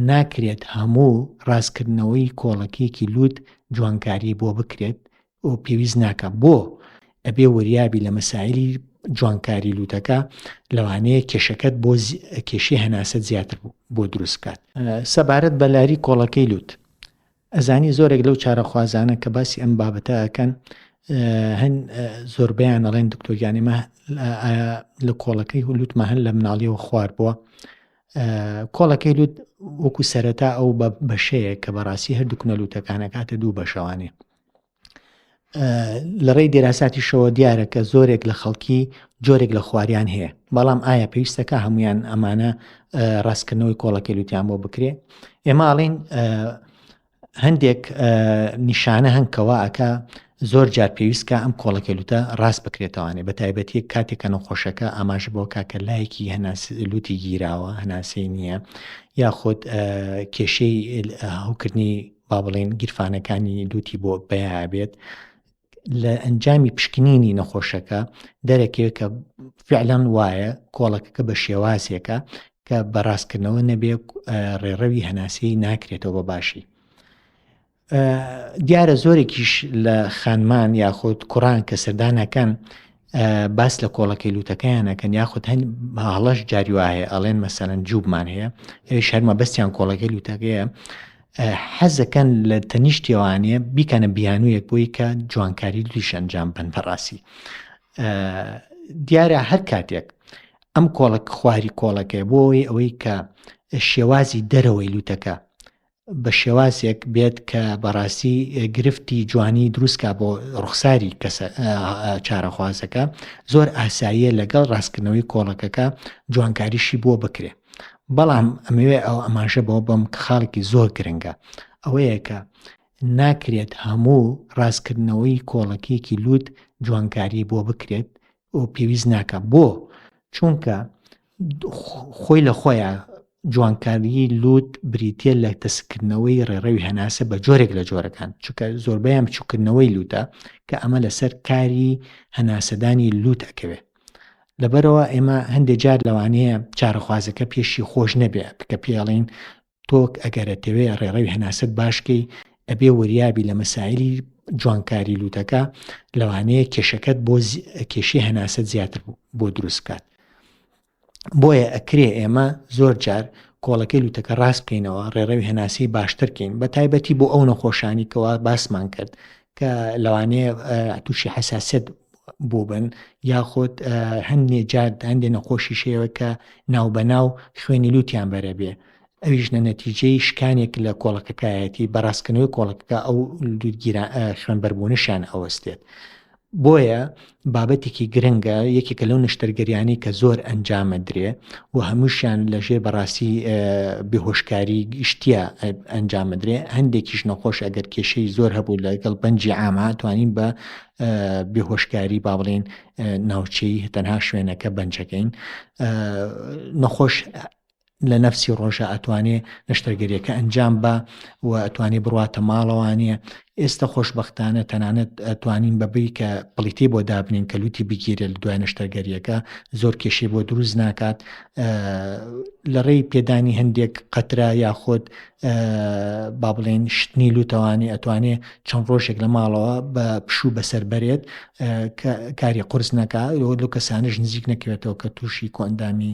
ناکرێت هەموو ڕاستکردنەوەی کۆڵەکیەکی لووت جوانکاری بۆ بکرێت و پێویست ناکە بۆ ئەبێ وریابی لە مەسایلی جوانکاری لووتەکە لەوانەیە کێشەکەت بۆ کێشی هەناسە زیاتر بۆ دروستکات سەبارەت بەلاری کۆڵەکەی لووت ئەزانی زۆرێک لەو چارەخوازانە کە باسی ئەم بابەتە ئەکەن هەن زۆربیان ئەڵێن دکتۆریانی مە لە کۆڵەکەی هولوتمە هەن لە مناڵیەوە خوار بووە کۆڵەکەی لوت وەکو سەرەتا ئەو بە بەشەیە کە بەڕاستی هەردوو کنەلووتەکانەکاتە دوو بەشەوانێ لە ڕێی دێراساتیشەوە دیارە کە زۆرێک لە خەڵکی جۆرێک لە خواریان هەیە بەڵام ئایا پێویستەکە هەمویان ئەمانە ڕاستکردنەوەی کۆڵەکە لوتیان بۆ بکرێ ئێماڵین هەندێک نیشانە هەنکەوە ئەکە زۆر جار پێویستکە ئەم کۆڵەکەلوتە ڕاست بکرێتوانێ بە تایبەتی کاتێکە نەخۆشەکە ئاماژ بۆ کاکە لایەکی هەناسلوتی گیراوە هەناسەی نییە یاخود کێشەی هەوکردنی با بڵێن گیرفانەکانی لوتی بۆ بەیا بێت لە ئەنجامی پشکنینی نەخۆشەکە دەرەکەوێت کە فعلەن وایە کۆڵەکەکە بە شێوازێکە کە بەڕاستکردنەوە نەبێ ڕێڕەوی هەناسی ناکرێتەوە بە باشی دیارە زۆرێکیش لە خانمان یاخود کوڕان کە سەردانەکەن باس لە کۆڵەکەی لوتەکەیان ئەکەن یاخود هەن هەڵەش جاری وایە ئەڵێن مەسەرەن جووبمان هەیە ئەوش هەرمە بەستیان کۆڵەکەی لوتەکەیە حەزەکەن لە تەنیشتێوانە بیکەنە بیانوویەک بۆی کە جوانکاری دویش ئەنجام بن بەڕاستی دیارە هەر کاتێک ئەم کۆڵک خواری کۆڵەکەی بۆی ئەوەی کە شێوازی دەرەوەی لوتەکە بە شێوازێک بێت کە بەڕاستی گرفتی جوانی دروستکە بۆ ڕوخساری کەسە چارەخوازەکە زۆر ئاساییە لەگەڵ ڕاستکردنەوەی کۆڵەکەکە جوانکاریشی بۆ بکرێ بەڵام ئەمەوێ ئەو ئەماژە بۆ بەم کە خاڵێکی زۆر گرنگە ئەوەیە کە ناکرێت هەموو ڕاستکردنەوەی کۆڵەکیەکی لووت جوانکاری بۆ بکرێت و پێویست ناکە بۆ چونکە خۆی لە خۆیان جوانکاریی لوت بریتە لە تەسکردنەوەی ڕێڕەوی هەناسە بە جۆرێک لە جۆرەکان چکە زۆربیان بچووکردنەوەی لوتە کە ئەمە لەسەر کاری هەناسەدانی لوت ئەکەوێ لەبەرەوە ئێمە هەندێک جار لەوانەیە چارەخوازەکە پێشی خۆش نەبێ بکە پێڵین تۆ ئەگەر ئەتەوێ ڕێڕەوی هەناسەت باشکەی ئەبێ وریابی لە مەسایلی جوانکاری لووتەکە لەوانەیە کێشەکەت بۆ کێشی هەناسەت زیاتر بۆ دروست بکات بۆیە ئەکرێ ئێمە زۆر جار کۆڵەکەی لوتەکە ڕاست بکەینەوە ڕێڕەوی هەناسی باشترکەین بە تایبەتی بۆ ئەو نەخۆشانی کەوا باسمان کرد کە لەوانەیە تووشی حساسەت بووبن یاخود هەندێ جات هەندێ نەخۆشی شێوە کە ناوبەناو خوێنی لووتیان بەرە بێ ئەویش نە نەتیجەی شکانێک لە کۆڵەکەکایەتی بەڕاستکردنەوەی کۆڵەکەکە ئەو دوودگیران خوێن بەربوونشیان ئەوەستێت بۆیە بابەتێکی گرنگە یەکێکە لەو نەشتەرگەریانەی کە زۆر ئەنجامە درێ و هەمووشیان لەژێر بەڕاستی بهۆشکاری گشتە ئەنجامە درێ هەندێکیش نەخۆش ئەگەر کێشەی زۆر هەبوو لەگەڵ بەنجی ئاما توانین بە بهۆشکاری با بڵێن ناوچەی تەنها شوێنەکە بەنجەکەین نەخۆش لە نەفسی ڕۆژە ئەتوانێ نەشتەرگەریەکە ئەنجام با و ئەتوانێ بڕاتە ماڵەوانە ئێستا خۆشببختانە تەنانەت ئەتوانین بەبی کە پلیتی بۆ دابنین کە لوتی بگیرێت لە دوای نەشتەرگەریەکە زۆر کێشەی بۆ دروست ناکات لە ڕێی پێدانی هەندێک قەترا یاخۆت با بڵێن شتنی لوتەوانی ئەتوانێ چەند ڕۆژێک لە ماڵەوە بە پشوو بەسەر بەرێت کاری قرس نەکە لۆ کەسانش نزیک نەکەوێتەوە کە تووشی کۆندامی